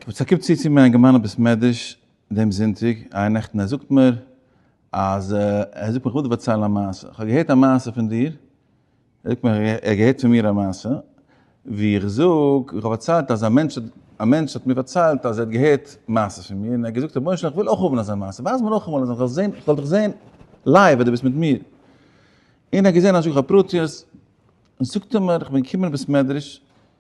כ'בין צוקומט צו צו מיין געמיינע בית מדרש דעם זונטאג איין נעכטן און ער זאגט מיר אז ער זאגט מיר כ'וועל דיר פארציילן א מעשה, כ'האב געהערט א מעשה פון דיר, ער זאגט מיר ער האט געהערט פון מיר א מעשה, ווי איך זאג איך האב פארציילט אז א מענטש א מענטש האט מיר פארציילט אז ער האט געהערט מעשות פון מיר און ער האט געזאגט רבונו של עולם כ'וויל אויך האבן אזא מעשה, ווייז מיר נאכאמאל אז כ'זאל זען כ'זאל דיך זען לייוו ווען דו ביסט מיט מיר, און ער האט געזען אז איך זאג א פרטיות, זאגט ער מיר כ'בין געקומען אין בית מדרש,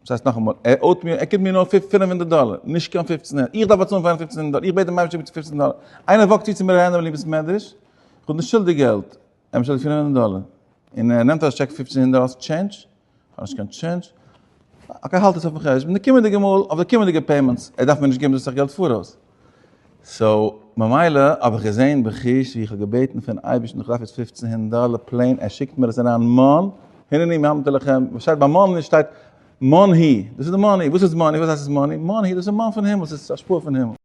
וואס הייסט נאכאמאל? ער אויט מיר, ער קומט מיר נאר פֿינף הונדערט דאלער, נישט קיין פֿופֿצן הונדערט, איך דארף באצאלן פאר אים פֿופֿצן הונדערט דאלער, איך בעט דעם אייבערשטער ביטע פֿופֿצן דאלער, איינער וואקט צו צו מיר אריין אין ביליווער סמעדרעש, איך האב נישט שולדיג געלט, ער באשולדיגט פֿיר הונדערט דאלער, און ער נעמט ארויס טשעק פֿופֿצן הונדערט, האסט טשענדזש? איך האב נישט קיין טשענדזש, אקעי האלט עס אויפן חשבון די קומענדיגע מאל, אויף די קומענדיגע פעימענטס, ער דארף מיר נישט געבן דאס סאך געלט פאראויס. סאו ממילא האב איך געזען בחוש ווי איך האב געבעטן פון אייבערשטן איך דארף יעצט פופצן הונדערט דאלער פלעין ער שיקט מיר עס אריין מאן הנני מאמתו לכם וואס שטייט ביי מאן שטייט מאן הי דאס איז די מאני וואס איז מאני וואס הייסט עס מאני מאן הי דאס איז מאן פון הימל עס איז השפעה פון הימל.